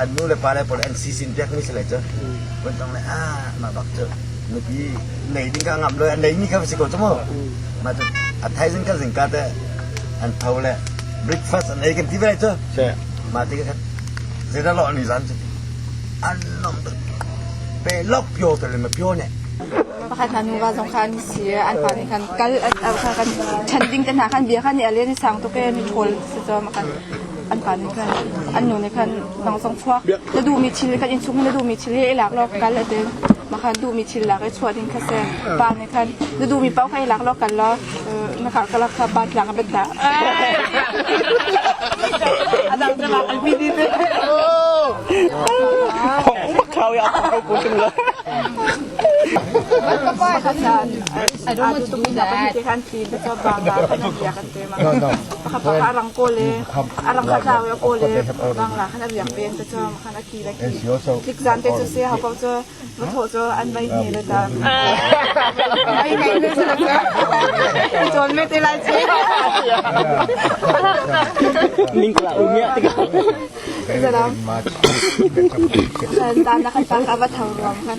an nu le pa le pawl an si sin piakmi si lai cu van tong le ah mah bak cu nupi nei ding ka ngam lo an nei mi kha va si ko cu mu mah cu a thaizing ka zing ka te an tho le breakfast an ei kan ti ve lai cu mah ti ka zeida lo ni zan cu an nom tuk pe lok pio te le ma pio ne pakhat hna nuva zong khan si an pa nih khan kal an kan chan ding kan hna khan bia khan ni alen sang to ke ni thol se cho ma khan an pa nih khan an nu nih khan nang zong chuak na duhmi thil kan in chung na duhmi thil i lak law kal a ti ma khan duhmi thil lak i chuah ding kha se pa nih khan na duhmi pau kha i lak law kal law na kha ka lak kha pa tlak a bet ta a dang dang an mi di I don't want to do that. khapa a rang ko le a rang kha tlau ya ko le rang la khan a riak peng te chong khan a ki la ki klik zan te chu se ha ko chu va tho chu an mai ni le ta mai mai ne chu chon me te lai che ning kala umya tika salam san ta na khan ta ka va thang ruam khan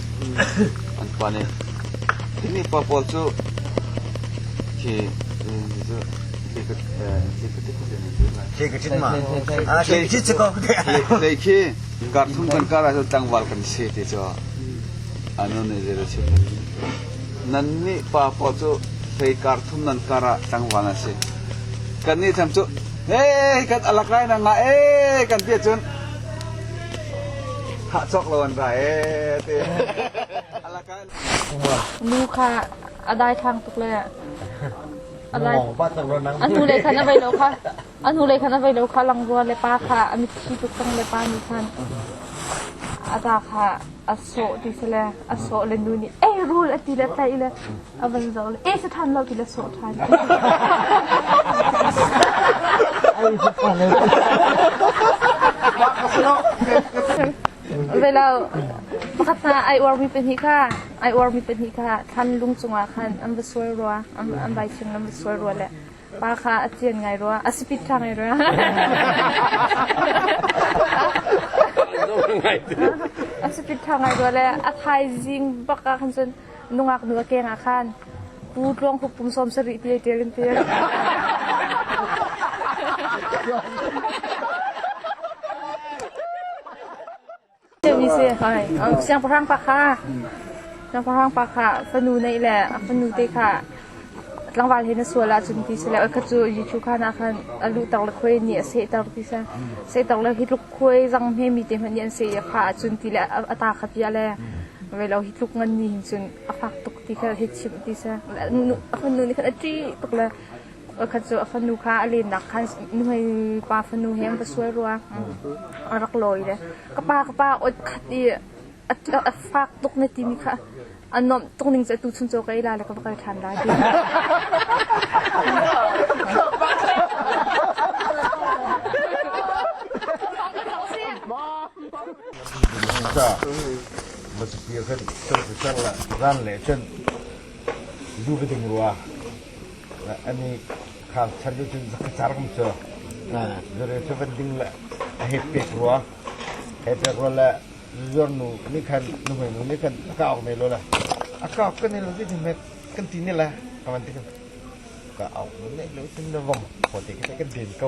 An pa nih, Hi pa pawl cu khi cu Nai khi karthum kan kar ahcun tlangval kan si ti cu a nu nih zei a chim Nan nih pa pawl cu hei karthum nan kar ah tlangval an si. Kan nih thlam cu hei kan alak lai na ngah ee kan ti ahcun Thah cawk lo an ra ee te. Nu kha a dai thang tuk le a dai a nu le khan a vai lo kha a nu le khan a vai lo kha langua le pa kha a mitthi tuk tang le pa nih khan a ta kha a sawh ti sele a sawh le nu nih ei rul a ti le tlaih le A van zoh le, eh, saṭhan lo ti le sawh ṭhan. Velo pakhat na ai uarmi pahnih kha ai uarmi pahnih kha thlan lung cungah khan an va sual rua an an vai chung an va sual rua le pa kha a tian ngai rua a spit ṭha ngai rua a spit ṭha ngai rua le a thaizing baka khan cun nungak nu a keng ah khan pu tluang hup pum sawm sarih ti tel in tel ni si siangpahrang pa kha siangpahrang pa kha fanu nei le a fanu te kha tlangval he na sual ahcun ti sile oi khat cu Jesuh kha na khan a luhter le khuai nih a sehter ti sa sehter le hi tluk khuai zang hme mi te hmanh nih an seh i a kha ahcun ti le a ta kha tia le velo hi tluk ngan ni hin cun a fak tuk ti kha hi chimh ti sa a fanu nih khan a ṭi tuk le khat cu a fanu kha a lennak khan nuhei pa fanu he va sual rua a rak lawi le ka pa ka pa ot khat i a fak tuk ne timi kha an nuamh tuk ning cu tuchun cu ka ila le ka va kal ṭhan lai Masipi kan kan sang la ran le chen lu ka ding rua ani khang chan lu chin zaka chargam cho zare cho van ding la a hep pek rua hep pek rua la zuarnu nih khan nuhmeinu nih khan a kah awk ne lo la a kah awk kan ne lo ti ti met kan ti ne la ka van ti kan ka awk ne lo tin na vom ko te ke kan den ko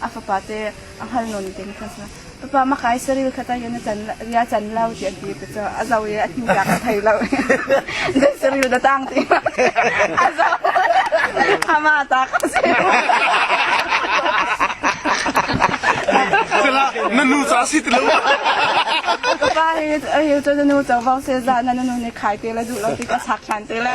a fapa te a hngal non te kan sa papa makai saril khata yan chan ria chan lau ti an ti te cho a zau ye a ni tak thai lo de saril da tang ti a zau ama tak se sila na nu cha si tilo papa he he to nu to vau se za na nu ne khai te la du lo ti ka sak than te la